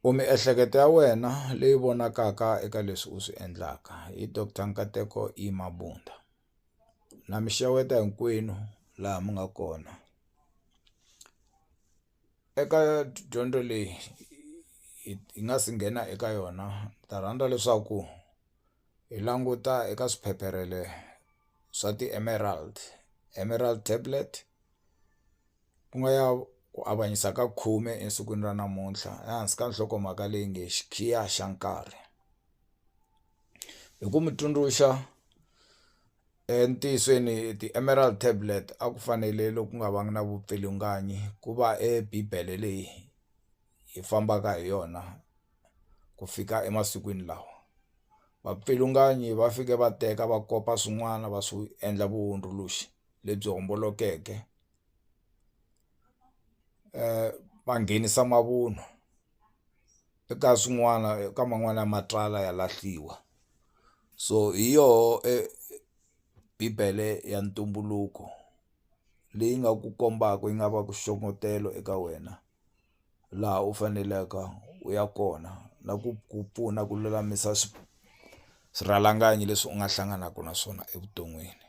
U miehleketo ya wena leyi vonakaka eka leswi u swi endlaka hi Doctor Nkateko E Mabunda. Na mi xeweta hinkwenu laha mi nga kona. Eka dyondzo leyi hi nga si nghena eka yona ni ta rhandza leswaku hi languta eka swiphepherele swa ti-emerald, emerald tablet. ku nga ya ku avanyisa ka khume esikwini ra namuntlha ehansi ka nhlokomhaka leyi nge xikhiya xa nkarhi hi ku mi tsundzuxa entiyisweni ti-emeral tablet a ku fanele loku nga va na vupfilunganyi ku va e bibele leyi hi fambaka hi yona ku fika emasikwini lawa vapfilunganyi va fike va teka va kopa swin'wana va swi endla vuhundzuluxi lebyi hombolokeke. va nghenisa mavunwa eka swin'wana eka man'wani ya matsalwa ya lahliwa so hi yoho bibele ya ntumbuluko leyi nga ku kombaka yi nga va ku xongetela eka wena laha u faneleke u ya kona na ku ku pfuna ku lulamisa swirhalanganyi leswi u nga hlanganaka na swona evuton'wini.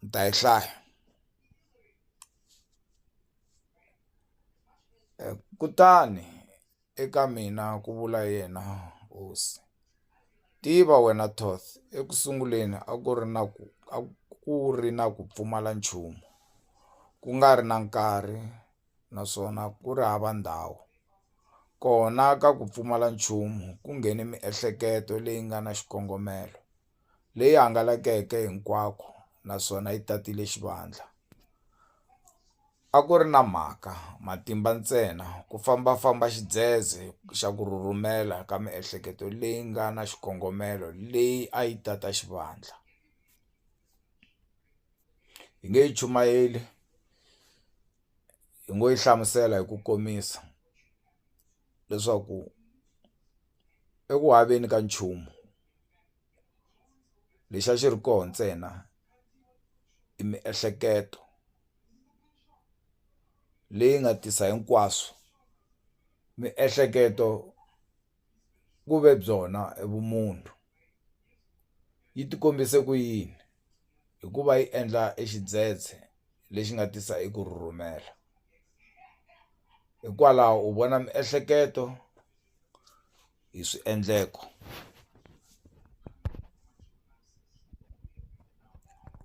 ni ta yi hlaya kutani eka mina ku vula yena hosi tiva wena Toth eku sunguleni a ku ri na ku a ku ri na ku pfumala nchumu ku nga ri na nkarhi naswona ku ri hava ndhawu kona ka ku pfumala nchumu ku nghene miehleketo leyi nga na xikongomelo. leyi hangalakeke hinkwako naswona yi tatile xivandla. A ku ri na mhaka, matimba ntsena, ku famba-famba xidzedze xa ku rhurhumela ka miehleketo leyi nga na xikongomelo leyi a yi tata xivandla. Hi nge yi chumayeli, hi ngo yi hlamusela hi ku komisa leswaku eku haveni ka nchumu, lexi a xi ri kona ntsena i miehleketo leyi nga tisa hinkwaswo miehleketo ku ve byona i vumunhu yi ti kombise ku yini hikuva yi endla e xidzedze lexi nga tisa eku rhurhumela hikwalaho u vona miehleketo. hi swiendleko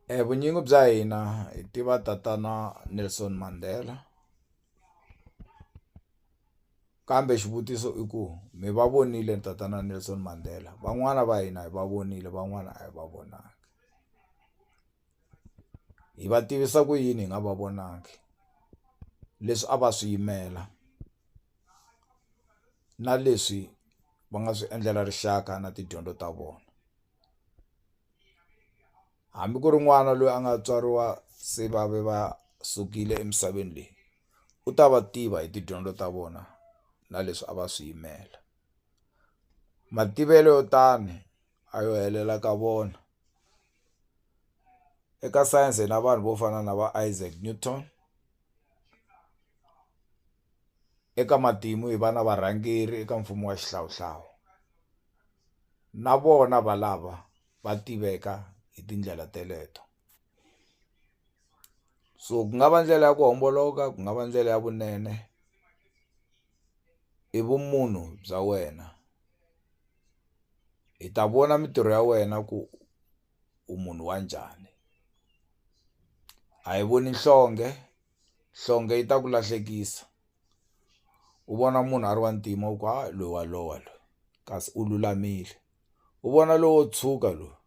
e vunyingi bya hina hi tiva tatana Nelson Mandela kambe xivutiso i ku mi va vonile tatana Nelson Mandela van'wana va hina hi va vonile van'wana a hi va vonangi. hi va tivisa ku yini hi nga va vonangi leswi a va swi yimela na leswi va nga swi endlela rixaka na tidyondzo ta vona hambi ku ri n'wana loyi a nga tswariwa se va ve va sukile emisaveni leyi u ta va tiva hi tidyondzo ta vona na leswi a va swi yimela mativelo yo tani. a yo helela ka vona eka science hi na vanhu vo fana na va Isaac Newton eka matimu hi va na varhangeri eka mfumo wa xihlawuhlawu na vona valava va tiveka hi tindlela teleto so ku nga va ndlela ya ku homboloka ku nga va ndlela ya vunene i vumunhu bya wena hi ta vona mintirho ya wena ku u munhu wa njhani a hi voni nhlonge nhlonge yi ta ku lahlekisa u vona munhu a ri wa ntima u ku ha loyi wa lowa loyi kasi u lulamile u vona lowo tshuka loyi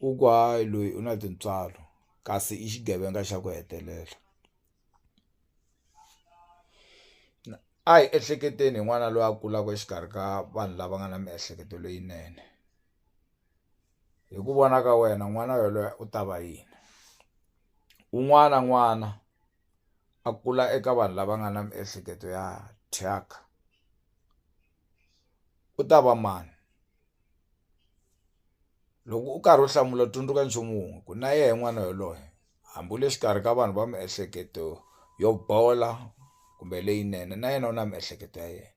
u ku hayi loyi u na tintswalo kasi i xigevenga xa ku hetelela. a hi ehleketeni hi n'wana loyi a kulaka exikarhi ka vanhu lava nga na miehleketo leyinene hi ku vona ka wena n'wana yelweyo u ta va yini un'wana na un'wana a kula eka vanhu lava nga na miehleketo ya thyaka u ta va mani loko u karhi u hlamula u tsundzuka nchumu wun'we ku na yehe n'wana yelweyo. hambi u le xikarhi ka vanhu va miehleketo yo bola kumbe leyinene na yena u na miehleketo ya yena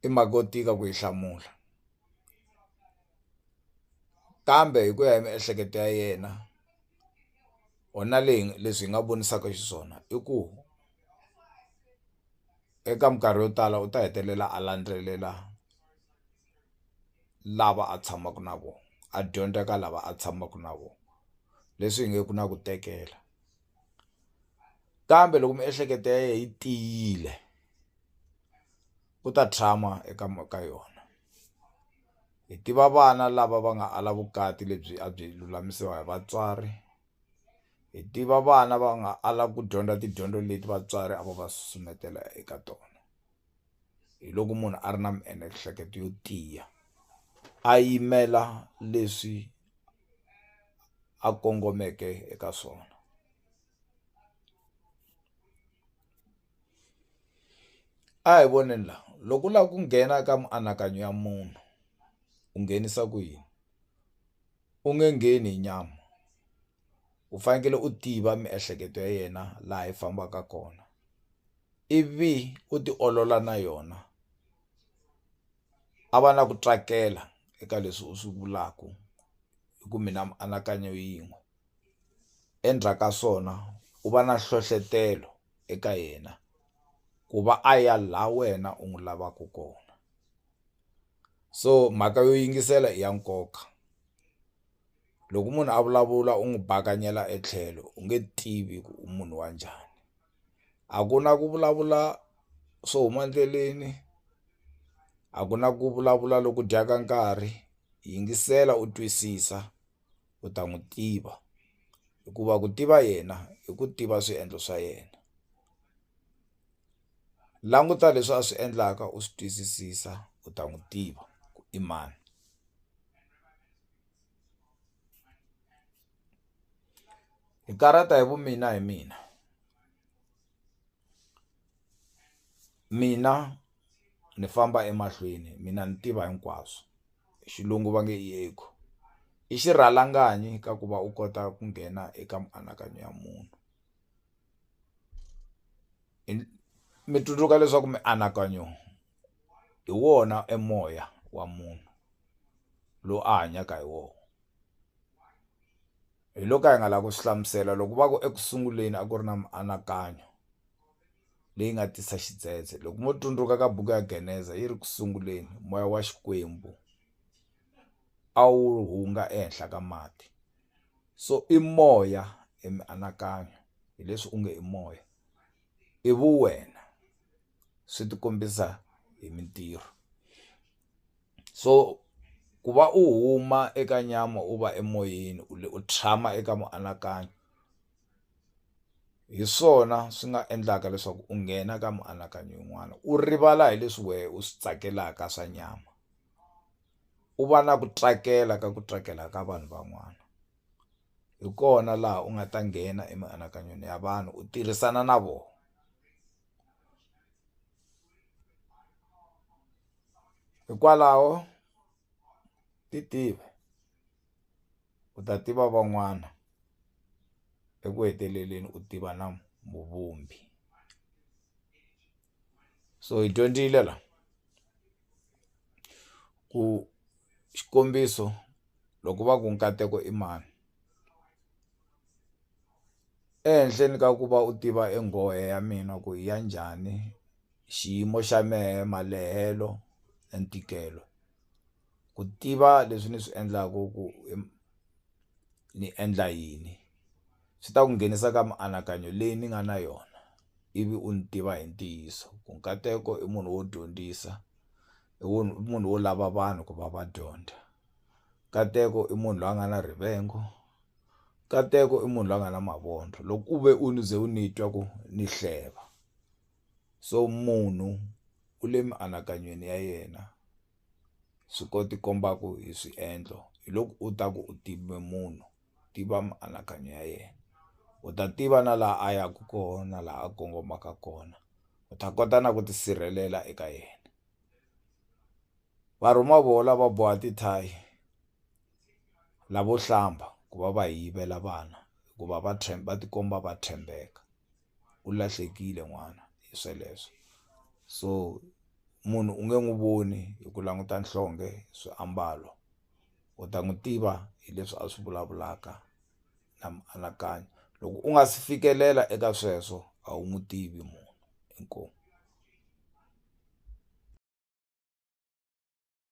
i mhaka yo tika ku yi hlamula kambe hi ku ya hi miehleketo ya yena or na leyi leswi hi nga vonisaka xiswona i ku eka minkarhi yo tala u ta hetelela a landzelela. lava a tshamaka na vona a dyondza ka lava a tshamaka na vona leswi hi nge ku na ku tekela kambe loko miehleketo ya yena yi tiyile u ta tshama eka ka yona hi tiva vana lava va nga ala vukati lebyi a byi lulamisiwa hi vatswari hi tiva vana va nga ala ku dyondza tidyondzo leti vatswari a va va susumetela eka tona. hi loko munhu a ri na miehleketo yo tiya a yimela leswi a kongomeke eka swona a hi voneni la loko u lava ku nghena ka mianakanyo ya munhu u nghenisa ku yini u nge ngheni hi nyama. u fanekele u tiva miehleketo ya yena laha yi fambaka kona ivi u tiolola na yona a va na ku tsakela eka leswi u swi vulaku hi ku mi na mianakanyo yin'we endzhaku ka swona u va na nhlohlotelo eka yena ku va a ya la wena u n'wi lavaku kona so mhaka yo yingisela i ya nkoka. loko munhu a vulavula u n'wi bakanyela etlhelo u nge tivi ku u munhu wa njhani a ku na ku vulavula swo huma endleleni a ku na ku vulavula loku dyaka nkarhi yingisela u twisisa u ta n'wi tiva hikuva ku tiva yena i ku tiva swiendlo swa yena languta leswi a swi endlaka u swi twisisisa u ta n'wi tiva ku i mani. hi karata hi vumina hi mina mina ni famba emahlweni mina ni tiva hinkwaswo xilungu va nge i ego i xirhalanganyi ka ku va u kota ku nghena eka mianakanyo ya munhu. mi tsundzuka leswaku mianakanyo hi wona e moya wa munhu lowu a hanyaka hi wona hi lo ka hi nga lavi ku swi hlamusela loko va ku eku sunguleni a ku ri na mianakanyo leyi nga tisa xidzedze loko mo tsundzuka ka buku ya geneza yi ri ku sunguleni moya wa xikwembu a wu hunga ehenhla ka mati. so i moya hi mianakanyo hi leswi u nge i moya i vu wena swi ti kombisa hi mintirho so ku va u huma eka nyama u va emoyeni u le u tshama eka mianakanyo hi swona swi nga endlaka leswaku u nghena ka mianakanyo yin'wana u rivala hi leswi wehe u swi tsakelaka swa nyama u va na ku tsakela ka ku tsakela ka vanhu van'wana hi kona laha u nga ta nghena emianakanyweni ya vanhu u tirhisana na vona hikwalaho ti tiva u ta tiva van'wana eku heteleleni u tiva na muvumbi. so hi dyondzile la ku xikombiso loko va ku nkateko i mani ehenhleni ka ku va u tiva enghohe ya mina ku ya njhani xiyimo xa mehe malehelo na ntikelo ku tiva leswi ni swi endlaku ku ni endla yini swi ta ku nghenisa ka mianakanyo leyi ni nga na yona ivi u ni tiva hi ntiyiso ku nkateko i munhu wo dyondzisa i wo i munhu wo lava vanhu ku va va dyondza nkateko i munhu loyi a nga na rivengo nkateko i munhu loyi a nga na mavondzo loko u ve u ni ze u ni twa ku ni hleva so munhu u le mianakanyweni ya yena. swi ko ti kombaka hi swiendlo hi loko u ta ku u tive munhu tiva mianakanyo ya yena u ta tiva na laha a yaka kona laha a kongomaka kona u ta kota na ku tisirhelela eka yena va rhuma voho lava boha tithayi lavo hlamba ku va va yivela vana hikuva va va tikomba va tshembeka. u lahlekile n'wana hi sweleswo so munhu u nge n'wi voni hi ku languta nhlonge swiambalo u ta n'wi tiva hi leswi a swi vulavulaka na mianakanyo loko u nga si fikelela eka sweswo a wu n'wi tivi munhu inkomu.